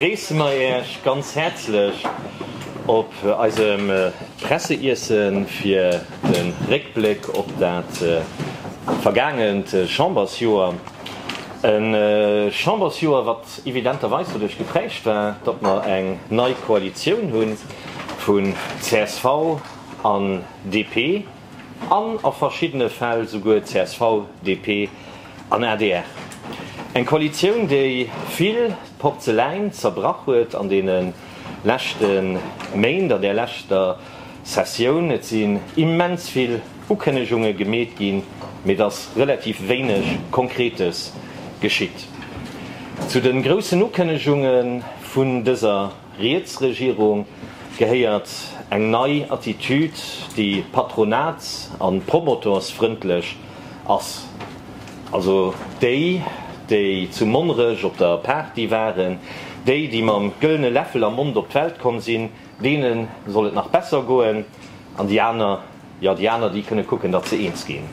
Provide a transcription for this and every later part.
Gréisse mer Äech ganz häerzlech op eisem Presseiessen fir de Réckbléck op dat vergaangent Chambersjoer. E Chambersjoer, wat evidenterweis doduerch geprägt war, datt mer eng nei Koalitioun hu vu csv an DP. An a verschiddene Fäll souguer csv, DP an adr. Eng Koalitioun, déi vill Porzeläin zerbrach huet an deene leschte Méint, an där leschter Sessioun. Et sinn immens vill Ukënnegunge gemeet ginn, mee et ass relativ wéineg Konkretes geschitt. Zu de groussen Ukënnegunge vun dëser Riets Regierung gehéiert eng nei Attitude, déi patronats a promotorsfrëndlech ass. Also déi, déi zu Monnerech op der Party waren, déi, déi mam gëllene Läffel am Mond op d'Welt komm sinn, deene soll et nach besser goen, an déi aner, jo, déi aner, déi kënne kucken, datt se eens ginn.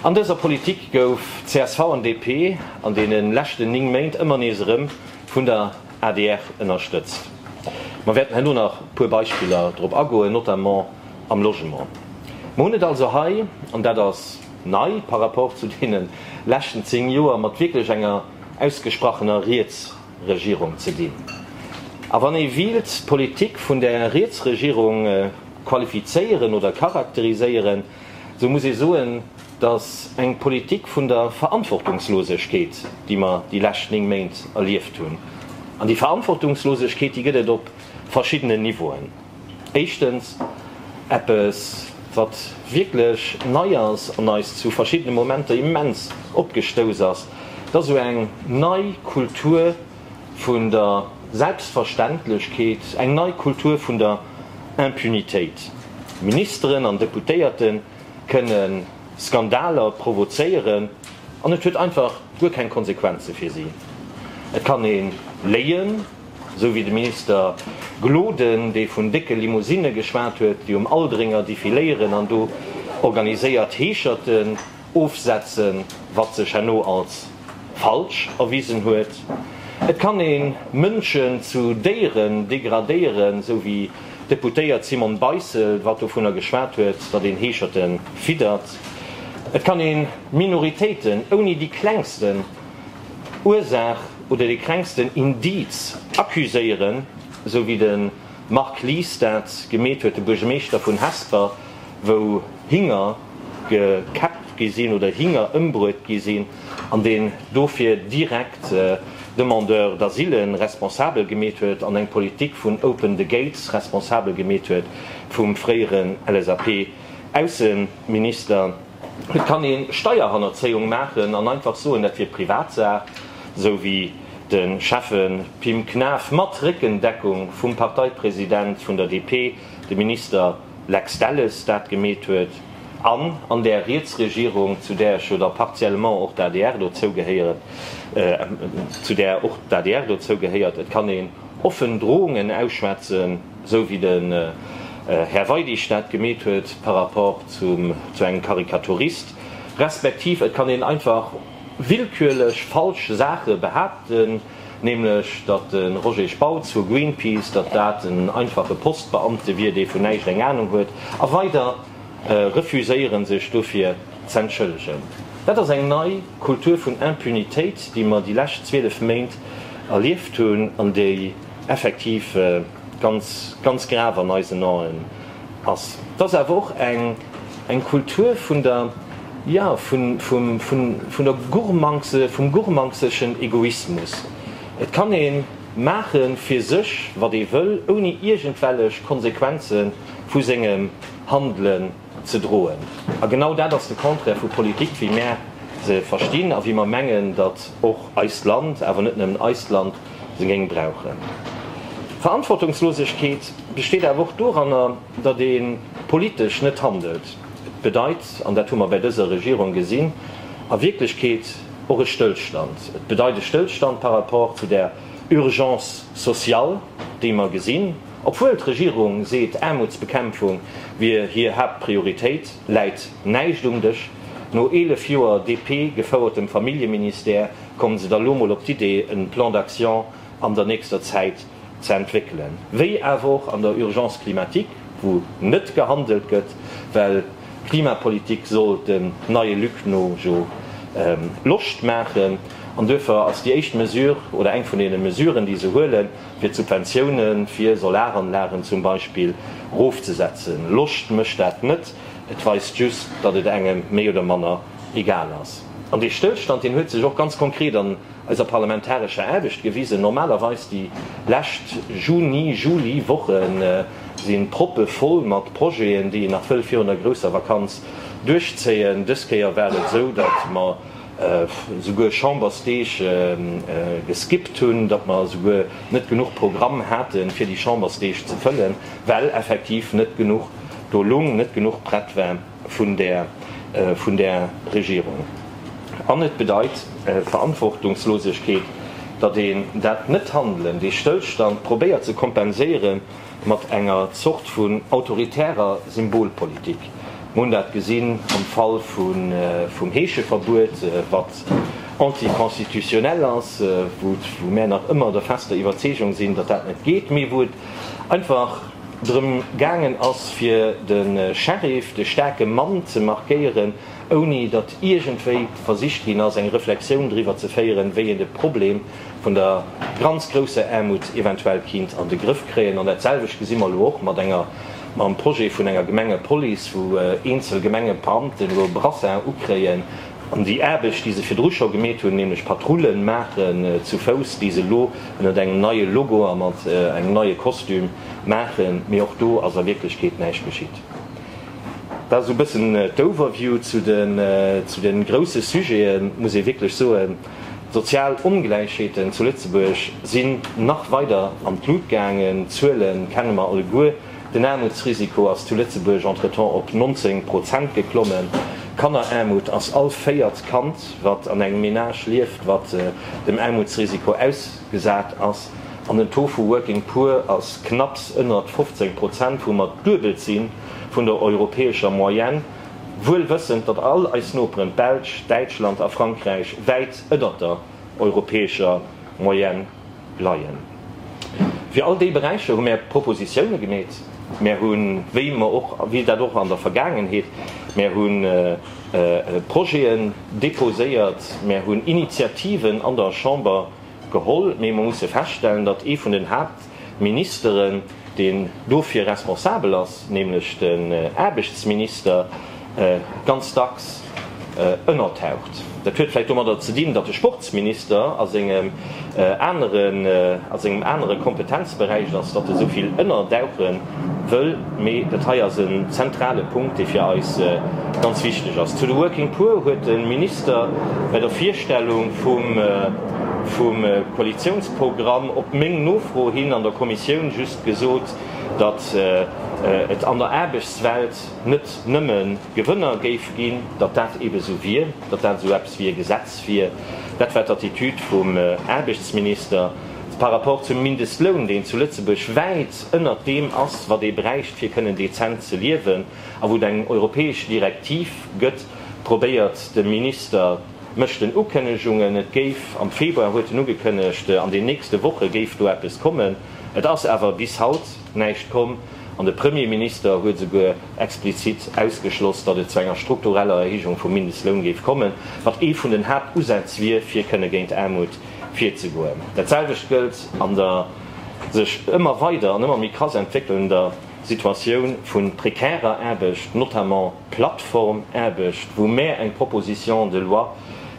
An dëser Politik gouf csv an DP an deene leschten 9 Méint ëmmer nees erëm vun der adr ënnerstëtzt. Mer wäerten herno nach e puer Beispiller drop agoen, notamment am Logement. Mer hunn et also hei, an dat ass nei par rapport zu deene leschten zéng Joer, mat wierklech enger ausgesprachener Rietsregierung ze dinn. A wann ee wiilt d'Politik vun där Rietsregierung qualifizéieren oder charakteriséieren, esou muss ee soen, dass eng Politik vun der Verantwortungslosegkeet, déi mer déi lescht néng Méint erlieft hunn, an déi Verantwortungslosegkeet, déi gëtt et op verschiddenen Niveauen, éischtens eppes, wat wierklech nei ass an eis zu verschiddene Momenter immens opgestouss ass, dass esou eng nei Kultur vun der Selbstverständlechkeet, eng nei Kultur vun der Impunitéit, Ministeren an Deputéierten, kënne Skandaler provozéieren an et huet einfach guer keng Konsequenze fir si. Et kann ee léien, esou wéi de Minister Gloden, dee vun décke Limousinne geschwat huet, déi um Aldringer defiléieren an do organiséiert Heescherten ofsetzen, wat sech herno als falsch erwisen huet. Et kann ee Mënschen zu Déieren degradéieren, esou wéi D'Deputéiert Simone Beissel wat dovunner geschwat huet, datt een Heescherte fiddert. Et kann ee Minoritéiten ouni déi klengsten Ursaach oder dee klengsten Indiz accuséieren, esou wéi de Marc Lies dat gemeet huet, de Buergermeeschter vun Hesper, wou Hinger gekäppt gi sinn oder Hinger ëmbruet gi sinn. an deen dofir direkt Demandeurs d'asile responsabel gemeet huet an eng Politik vun open the gates responsabel gemeet huet vum fréieren LSAP-Ausseminister. Et kann ee Steierhannerzéiung maachen an einfach soen, dat wier Privatsaach, esou wéi de Schäffe Pim Knaff, mat Réckendeckung vum Parteipresident vun der DP, de Minister. Lex Delles dat gemeet huet, an an där Rietsregierung, zu där ech jo da partiellement och d'ADR dozou gehéieren, zu där och d'ADR dozou gehéiert. Et kann een offen Drohungen ausschwätzen, esou wéi den Här Weidig dat gemeet huet par rapport zu engem Karikaturist, respektiv et kann een einfach willkürlech falsch Saache behaapten. nämlech datt de Roger Spautz vu Greenpeace, datt dat en einfache Postbeamte wier, dee vun näischt eng Anung huet, a weider refuséieren, sech dofir z'entschëllegen. Dat ass eng nei Kultur vun Impunitéit, déi mer déi lescht 12 Méint erlieft hunn an déi effektiv ganz, ganz grav an eisen Aen, ass. Et ass awer och eng Kultur vun der, jo, vun der Gurmangse, vum gurmangseschen Egoismus. Et kann ee maache fir sech, wat ee wëll, ouni iergendwellech Konsequenze vu sengem Handelen ze droen. A genau dat ass de Contraire vu Politik, wéi mär se verstinn a wéi mer mengen, datt och eist Land, awer net nëmmen eist Land, se géing brauchen. Verantwortungslosegkeet besteet awer och doranner, datt ee politesch net handelt. Et bedeit, an dat hu mer bäi dëser Regierung gesinn, a Wierklechkeet och e Stëllstand. Et bedeit e Stëllstand par rapport zu där Urgence sociale, déi mer gesinn, obwuel d'Regierung seet, Aarmutsbekämpfung wier hir Haaptprioritéit, läit näischt um Dësch. No eelef Joer DP-gefouertem Familljeministère Komme se da lo mol op d'Idee en Plan d'action an der nächster Zäit ze entwéckelen, wéi awer och an der Urgence climatique, wou net gehandelt gëtt, well Klimapolitik soll dem neie Luc no jo Loscht maachen. An duerfir ass déi éischt Mesure oder eng vun deene Mesuren, déi se huelen, fir d'Subventioune fir Solaranlagen zum Beispill erofzesetzen. Loscht mécht dat net, et weist just, datt et engem méi oder manner egal ass. An dee Stëllstand, deen huet sech och ganz konkret an eiser parlamentarescher Aarbecht gewisen. Normalerweis, déi lescht Juni-, Juli-Woche si proppe voll mat Projeten, déi een nach wëll virun der grousser Vakanz duerchzéien. Dës Kéier war et esou, datt mer esouguer Chambersdeeg geskippt hunn, datt mer esouguer net genuch Programm hate fir déi Chambersdeeg ze fëllen, well effektiv net genuch do lung, net genuch prett war. vun där Regierung. An et bedeit Verantwortungslosegkeet, datt een dat Net-Handelen, dee Stëllstand probéiert ze kompenséiere mat enger Zort vun autoritärer Symbolpolitik. Mir hunn dat gesinn am Fall vum Heescheverbuet, wat anti-constitutionnel ass, wou mär nach ëmmer der fester Iwwerzeegung sinn, datt dat net geet, mee wou et einfach, drëm gaangen ass, fir de Sheriff, de staarke Mann, ze markéieren, ouni datt iergendwéi versicht ginn ass, eng Reflexioun driwwer ze féieren, wéi een de Problem vun der ganz grousser Aarmut eventuell kinnt an de Grëff kréien. An datselwecht gesi mer elo och mat enger, mam Projet vun enger Gemengepolice, wou eenzel Gemengebeamten elo e Brassard ukréien, An déi Aarbecht, déi se virdru scho gemeet hunn, nämlech Patrulle maachen zu Fouss, déi se elo ënnert engem neie Logo a mat engem neie Kostüm maachen, mee och do ass a Wierklechkeet näischt geschitt. Dat esou e bëssen d'Overview zu de grousse Sujeten. Et muss ee wierklech soen, d'sozial Ongläichheeten zu Lëtzebuerg sinn nach weider an d'Lut gaangen. D'Zuele kenne mer alleguer. Den Aarmutsrisiko ass zu Lëtzebuerg entretemps op 19 Prozent geklommen. Kanneraarmut ass all véiert Kand, wat an engem Menage lieft, wat dem Aarmutsrisiko ausgesat ass. An den Taux vu Working Poor ass knapps ënnert 15 Prozent, wou mer d'Duebelt si vun der europäescher Moyenne, wuel wëssend, datt all eis Noperen, d'Belsch, Däitschland a Frankräich, wäit ënnert der europäescher Moyenne leien. Fir all déi Beräicher hu mär Propositioune gemeet. Mär hu, wéi mer och, wéi dat och an der Vergaangenheet, mär hu Projeten déposéiert, mär hu Initiativen an der Chamber geholl. Mee mer musse feststellen, datt ee vun den Haaptministeren, deen dofir responsabel ass, nämlech den Aarbechtsminister, ganz dacks ënnertaucht. Dat huet vläicht domadder ze dinn, datt de Sportsminister a sengem anere Kompetenzberäich ass, datt e sou vill ënnerdauche wëll, mee dat hei ass en zentrale Punkt, dee fir eis ganz wichteg ass. Zu de Working Poor huet de Minister bei der Virstellung vum Koalitiouns. Programm op meng Nofro hin an der Kommissioun just gesot, datt et an der Aarbechtswelt net nëmme Gewënner géif ginn, datt dat eebe esou wier, datt dat esou eppes wéi e Gesetz wier. Dat war d'Attitude vum Aarbechtsminister par rapport zum Mindestloun, deen zu Lëtzebuerg wäit ënnert deem ass, wat ee bräicht, fir kënnen dezent ze liewen, a wou et eng europäesch Direktiv gëtt, probéiert de Minister, Mécht en Ukënnegungen, et géif, am Februar huet en ugekënnegt, an den nächste Woche géif do eppes kommen. Et ass awer bis haut näischt komm an de Premierminister huet esouguer explizit ausgeschloss, datt et zu enger struktureller Erhéijung vum Mindestloun géif kommen, wat ee vun den Haaptusätz wier, fir kënne géint Aarmut virzegoen. Dat selwecht gëllt an der sech ëmmer weider an ëmmer méi krass entwéckelnder Situatioun vu prekärer Aarbecht, notamment, Plattformaarbecht, wou mär eng Proposition de loi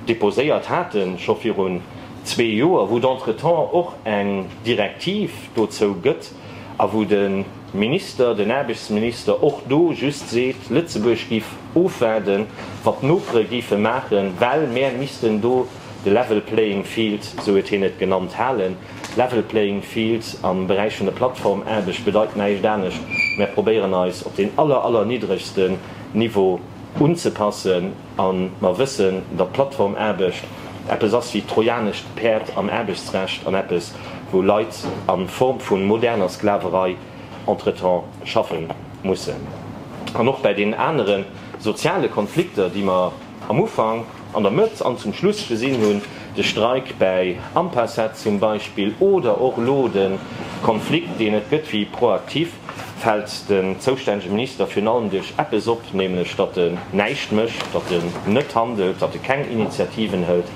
déposéiert haten, scho virun zwee Joer, wou d'entretemps och eng Direktiv dozou gëtt a wou de Minister, den Aarbechtsminister och do just seet, Lëtzebuerg géif ofwaarden, wat d'Nopere géife maachen, well mär missten do de level playing field, sou huet hien et genannt, halen. Level playing field am Beräich vun der Plattformaarbecht bedeit näischt anescht, mär probéieren eis op deen aller, aller niddregsten Niveau unzepassen a mer wëssen, datt d'Plattformaarbecht eppes ass wéi d'trojanescht Päerd am Aarbechtsrecht an eppes, wou Leit a Form vu moderner Sklaverei entretemps schaffe mussen. An och bäi deenen anere soziale Konflikter, déi mer. Am Ufank, an der Mëtt an zum Schluss gesinn hunn, de Streik bäi Ampacet zum Beispill oder och elo de Konflikt, deen et gëtt wéi proaktiv, fält den zoustännege Minister virun allem duerch eppes op, nämlech datt en näischt mécht, datt en net handelt, datt e keng Initiativen hëlt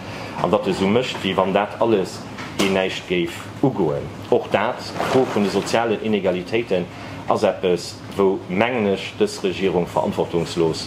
an datt e esou mécht, wéi wann dat alles een näischt géif ugoen. Och dat, d'Fro vun de sozialen Inegalitéiten, ass eppes, wou, mengen ech, dës Regierung verantwortungslos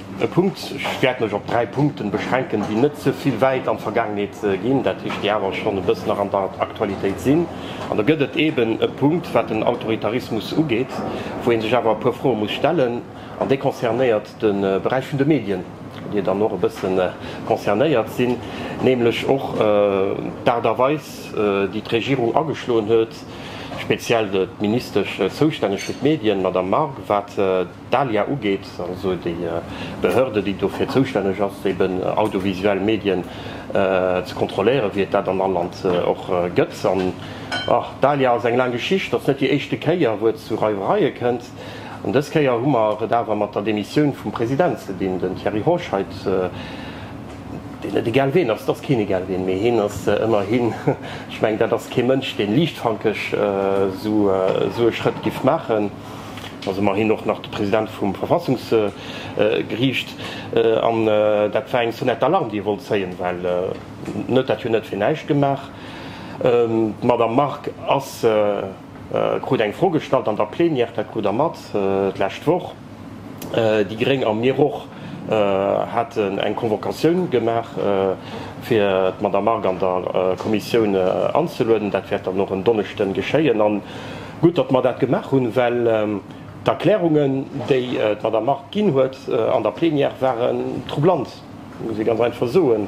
E Punkt, ech wäert mech op dräi Punkte beschränken, déi net ze vill wäit an d'Vergaangenheet ginn, dat heescht, déi awer schonn e bëssen nach an der Aktualitéit sinn. An do gëtt et eeben e Punkt, wat den Autoritarismus ugeet, wou ee sech awer e puer Froe muss stellen, an dee concernéiert de Beräich vun de Medien, wou Dir dann och e bësse concernéiert sinn, nämlech och d'Aart a Weis, déi d'Regierung ageschloen huet, speziell d'Ministesch zoustänneg fir d'Medien, d'Madame Margue, wat D'ALIA ugeet, also déi Behörde, déi dofir zoustänneg ass, eben audiovisuell Medien ze kontrolléieren, wéi et dat an all Land och gëtt. An d'ALIA ass eng laang Geschicht. Et ass net déi éischte Kéier, wou et zu Reiwereie kënnt. An dës Kéier hu mer et awer mat der Demissioun vum President ze dinn. Den Thierry Roche heit, deen net egal ween ass, et ass keen egal ween, mee hien ass ëmmerhi, ech mengen, dat ass kee Mënsch, dee liichtfankeg esou e Schrëtt géif maachen. Et ass ëmmerhin och nach de President vum Verfassungsgeriicht. An dat war eng Sonnette d'Alarme, déi e wollt zéien, well en huet dat jo net fir näischt gemaach. D'Madame Margue ass, krut eng Fro gestallt an der Plenière, dat krut Der mat d'lescht Woch, déi Gréng a mir och haten eng Convocatioun gemaach, fir d'Madame Margue an der Kommissioun anzelueden. Dat wäert dann och en Donneschden geschéien. Gutt, datt mer dat gemaach hunn, well d'Erklärungen, déi d'Madame Mart ginn huet an der Plenière, waren troublant, muss ee ganz einfach soen.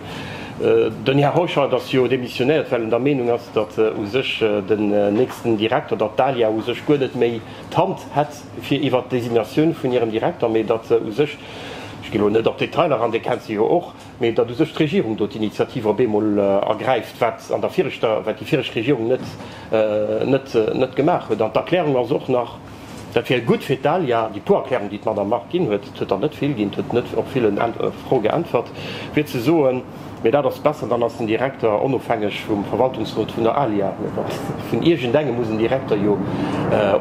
Den Här Hauscheid ass jo demissionéiert, well en der Meenung ass, datt u sech den nächsten Direkter, datt d'ALIA u sech guer net méi d'Hand hätt fir iwwert d'Designatioun vun hirem Direkter, mee datt u sech, ech ginn elo net op d'Detailer an, Dir kennt se jo och, Mee datt u sech d'Regierung do d'Initiativ op eemol ergräift, wat an der viregter, wat déi viregt Regierung net, net, net gemaach huet. An d'Erklärung ass och nach, dat wier gutt fir d'ALIA, déi puer Erklärung, déi d'Madamm Margue ginn huet, et huet der net vill ginn, huet net op vill Froe geäntwert, wier ze soen, mee dat ass besser, dann ass den Direkter onofhängeg vum Verwaltungsrot vun der ALIA. Mä dat, vun iergendengem muss en Direkter jo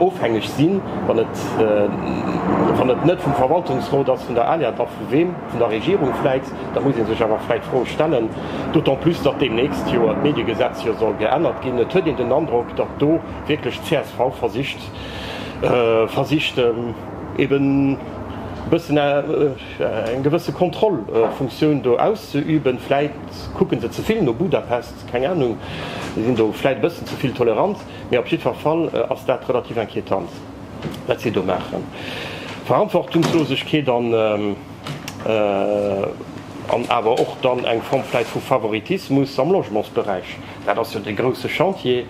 ofhängeg sinn, wann et, wann et net vum Verwaltungsrot ass vun der ALIA, da vu weem? vun der Regierung vläit, da muss ee sech awer vläit d'Fro stellen, d'autant plus datt deemnächst jo d'Mediegesetz jo soll geännert ginn, et huet een den Androck, datt do wierklech d'CSV versicht, versicht eeben e bëssen eng gewësse Kontrollfunktioun do auszeüben. Vläit kucke se ze vill no Budapest, keng Anung, si sinn do vläit e bëssen ze vill tolerant, mee op jiddwer Fall ass dat relativ inquiétant. wat si do maachen. Verantwortungslosegkeet an awer och dann eng Form vläit vu Favoritismus am Logementsberäich. Dat ass jo dee grouse Chantier,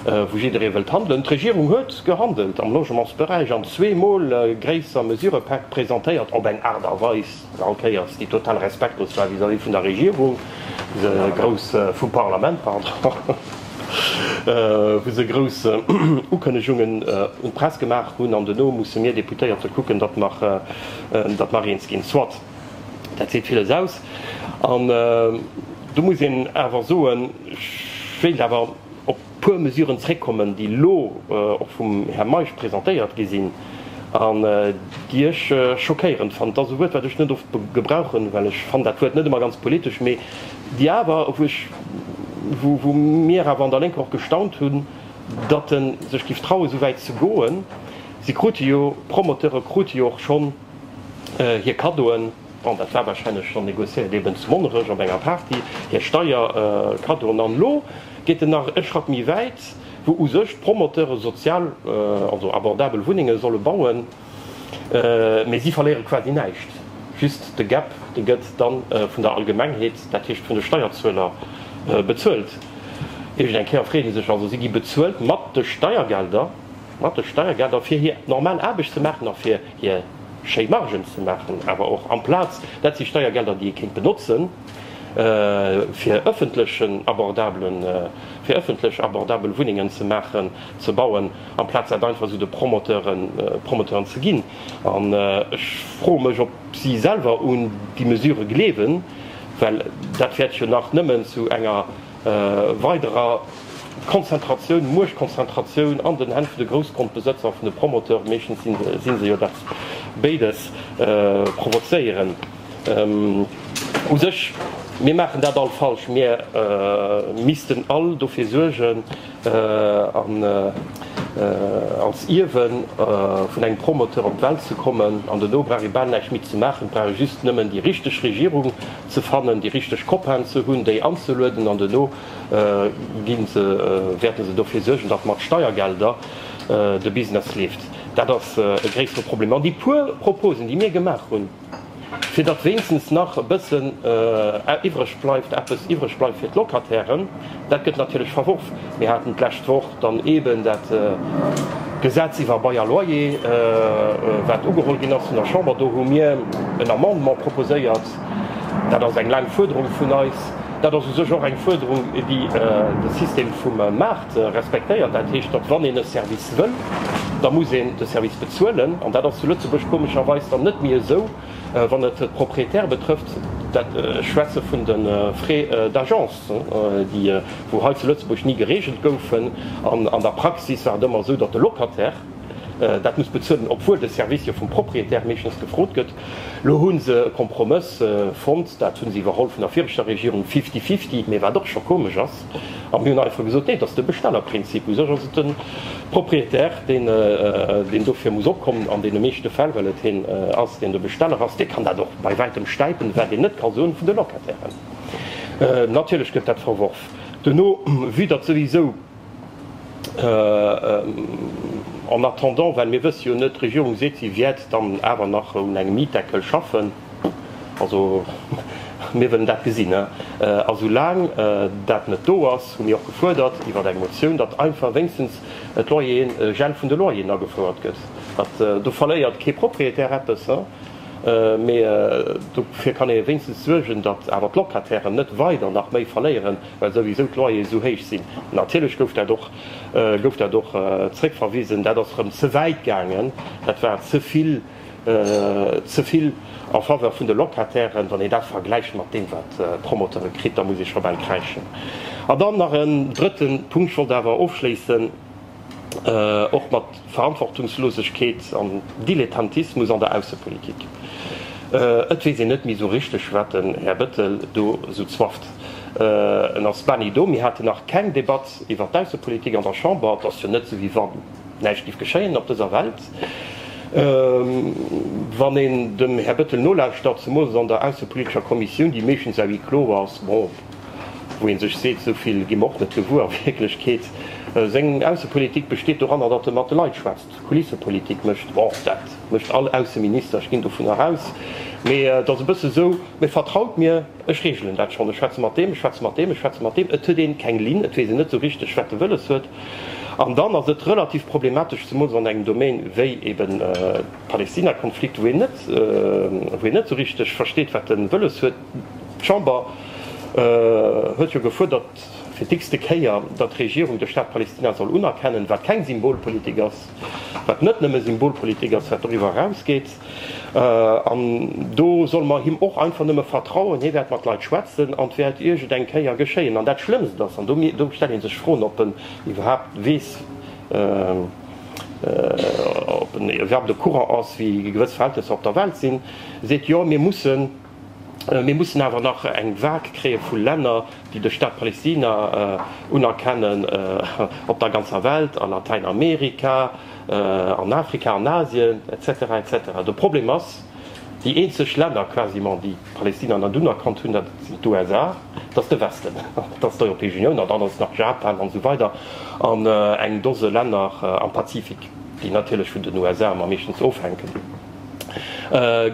wou jidderee wëllt handelen. D'Regierung huet gehandelt am Logementsberäich an zweemol gréisser Mesurëpäck presentéiert op eng Aart a Weis, All Kéiers déi total respektlos war vis-à-vis vun der Regierung, se grouss, vum Parlament, pardon, wou se grouss Ukënnegungen un d'Press gemaach hunn an duerno musse mir Deputéierte kucken, datt mer, datt mer eens ginn. Soit, dat seet villes aus. An do muss een awer soen, ech wéilt awer op. puer Mesuren zréckkommen, déi elo och vum Här Meisch presentéiert gi sinn an déi ech schockéirend fannen. Et ass e Wuert, wat ech net oft gebrauchen, well ech fannen dat Wuert net ëmmer ganz politesch, mee déi awer, wou ech, wou mir awer an der Lénker och gestaunt hunn, datt e sech géif trauen, esou wäit ze goen. Si krute jo, d'Promoteure krute jo och schonn hir Kaddoen. Bon, dat war wahrscheinlech schon négociéiert, eben zu Monnerech op enger Party, hir Steierkaddoen. An elo geet en nach e Schratt méi wäit, wou u sech d'Promoteure sozial, also abordabel Wunnenge solle bauen, mä si verléiere quasi näischt, just de Gap, dee gëtt dann vun der Allgemengheet, dat heescht vun de Steierzueler bezuelt. Iergend eng Kéier freet ee sech also, si gi bezuelt mat de Steiergelder, mat de Steiergelder, fir hir normal Aarbecht ze maachen a fir hir. schéi Margen ze maachen, awer och amplaz dat si Steiergelder, déi ee kéint benotzen, fir ëffentlech abordabel Wunnengen ze maachen, ze bauen, amplaz dat einfach esou de Promoteuren ze ginn. An ech froe mech, ob si selwer un déi Mesure gleewen, well dat wäert jo nach nëmmen zu enger, weiderer Konzentratioun, Muechtkonzentratioun an den Hänn vun de Groussgrondbesëtzer, vun de Promoteure, meeschtens si se jo dat, béides provozéieren. U sech, mir maachen dat all falsch, mir missten all dofir suergen, als Ierwe vun engem Promoteur op d'Welt ze kommen, an den Obrari bal näischt méi ze maachen brauch, just nëmmen déi richteg Regierung ze fannen, déi richteg Copainen ze hunn, déi anzelueden an duerno gi se, wäerte se dofir suergen, datt mat Steiergelder de Business leeft. Dat ass e gréissere Problem. An déi puer Proposen, déi mir gemaach hunn, fir datt wéinstens nach e bëssen iwwreg bleift, eppes iwwreg bleift fir d'Locatairen, dat gëtt natierlech verworf. Mir haten d'lescht Woch dann eeben dat Gesetz iwwer Bail à loyer, wat ugeholl ginn ass vun der Chamber. Do hu mir en Amendement proposéiert, Dat ass eng laang Fuerderung vun eis. Dat ass u sech och eng Fuerderung, déi de System vum Maart respektéiert. Dat heescht, datt, wann een e Service wëll, da muss een de Service bezuelen. An dat ass zu Lëtzebuerg komescherweis dann net méi esou, wann et d'Propriétaire betrëfft. Ech schwätze vun de Frais d'agence, déi wou hei zu Lëtzebuerg ni gereegelt goufen. An an der Praxis war et ëmmer esou, datt de Locataire dat muss bezuelen, obwuel de Service jo vum Propriétaire meeschtens gefrot gëtt. Lo hu se e Kompromëss fonnt, dat hu se iwwerholl vun der viregter Regierung, fifty-fifty, mee wat och scho komesch ass. A mir hunn einfach gesot, nee, et ass de Bestellerprinzip. U sech ass et de Proprietär, deen dofir muss opkommen an deene meeschte Fäll, well et hien ass, deen de Besteller ass. Dee kann dat och bei wäitem stäipen, wat een net ka soen vun de Locatairen. Natierlech gëtt dat verworf. Duerno, vue datt souwisou En attendant, well mir wësse jo net, d'Regierung seet, si wäert dann awer nach un engem Mietdeckel schaffen, also mir wëllen dat gesinn. A soulaang dat net do ass, hu mir och gefuerdert iwwer eng Motioun, datt einfach wéinstens d'Loyeren, Gel vun de Loyeren agefouert gëtt. Datt, do verléiert kee Propriétaire eppes, mee dofir kann ee wéinstens suergen, datt awer d'Locatairen net weider nach méi verléieren. well souwisou d'Loyere sou héich sinn. Natierlech gouf dat och gouf dat och zréckverwisen. Dat ass erëm ze wäit gaangen. Dat war ze vill ze vill en faveur vun de Locatairen. Wann een dat vergläicht mat deem wat d'Promoteure kritt, da muss ee scho bal kräischen. An dann nach en drëtten Punkt, ech wollt awer ofschléissen, och mat Verantwortungslosegkeet an Dilettantismus an der Aussepolitik. Et weess een net méi esou richteg, wat den Här Bettel do esou zwafft. En ass bani do. Mir haten nach keng Debatt iwwert d'Aussepolitik an der Chamber. Et ass jo net esou, wéi wa näischt géif geschéien op dëser Welt. Wann een dem Här Bettel nolauschtert, zemools an der aussepolitescher Kommissioun, déi meeschtens à huis clos ass, bon, wou ee sech seet, esou vill gi mer och net gewuer a Wierklechkeet. Seng Aussepolitik besteet doranner, datt e mat de Leit schwätzt, Kulissepolitik mécht. Bon, dat mécht all Ausseminister, ech ginn dovunner aus. Mee et ass e bësse esou, Mee vertraut mir, ech reegelen dat schonn, ech schwätze mat deem, ech schwätze mat deem, ech schwätze mat deem. Et huet een keng Linn, et weess een net esou richteg, wat e wëlles huet. An dann ass et relativ problematesch, zemools an engem Domaine wéi eben Palästina-Konflikt, wou een net, wou een net esou richteg versteet, wat e wëlles huet. D'Chamber huet jo gefuerdert, fir d'x-te Kéier, datt d'Regierung de Staat Palestina soll unerkennen, wat keng Symbolpolitik ass, wat net nëmme Symbolpolitik ass, wat doriwwer erausgeet. An do solle mer him och einfach nëmme vertrauen, hie wäert mat Leit schwätzen an et wäert iergendeng Kéier geschéien. An dat Schlëmmst ass, an do stellt ee sech d'Froen, ob en iwwerhaapt weess, ob en iwwerhaapt au courant ass, wéi gewëss Verhältnesser op der Welt sinn, seet, Jo, mir mussen, Mir mussen awer nach eng Vague kréie vu Länner, déi de Staat Palestina unerkennen, op der ganzer Welt, a Latäinamerika, an Afrika, an Asien, etc. Etc. De Problem ass, déi eenzeg Länner quasiment, déi Palestina net unerkannt hunn, dat sinn d'USA, dat ass de Westen, dat ass d'Europäesch Unioun, an dann ass nach Japan, an esou weider, an eng Dose Länner am Pazifik, déi natierlech vun den USA am meeschtens ofhänken.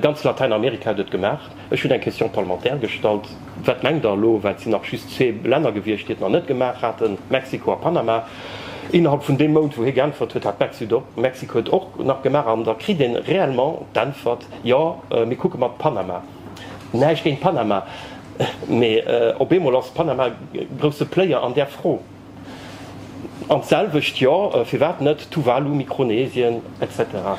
Ganz Latäinamerika huet et gemaach. Ech hunn eng Question parlementaire gestallt. Wat mengt Der elo, well et sinn nach just zwee Länner gewiescht, déi et nach net gemaach haten, Mexiko a Panama. Innerhalb vun deem Mount, wou hie geäntwert huet, hat Mexiko et och nach gemaach. An da kritt een réellement d'Äntwert, Jo, mir kucke mat Panama. Näischt géint Panama, mee op eemol ass Panama grousse Player an där Fro. An d'selwecht, jo, firwat net Tuvalu, Mikronesien, etc.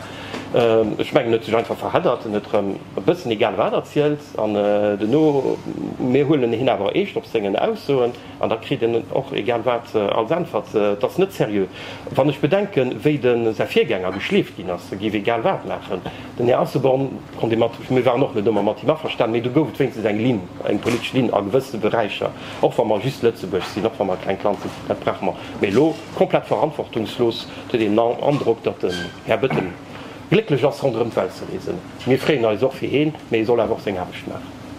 Ech mengen, huet sech einfach verheddert. En huet erëm e bëssen egal wat erzielt an duerno, mir huelen hien awer eescht op sengen Aussoen an da kritt en och egal wat als Äntwert. Et ass net seriö. Wann ech bedenken, wéi de säi Virgänger geschleeft ginn ass, e géif egal wat maachen. Den Här Asselborn konnt ee mat, mir waren och net ëmmer mat him averstan, mee do gouf et wéinstens eng Linn, eng politesch Linn a gewësse Beräicher. Och wa mer just Lëtzebuerg sinn, och wa mer e klengt Land sinn, dat brauche mer. Mee elo, komplett verantwortungslos, et huet een den Androck, datt den Här Bettel glécklech ass ronderëm d'Welt ze reesen. Mir freeën eis och fir heen, mee e soll awer och seng Aarbecht maachen.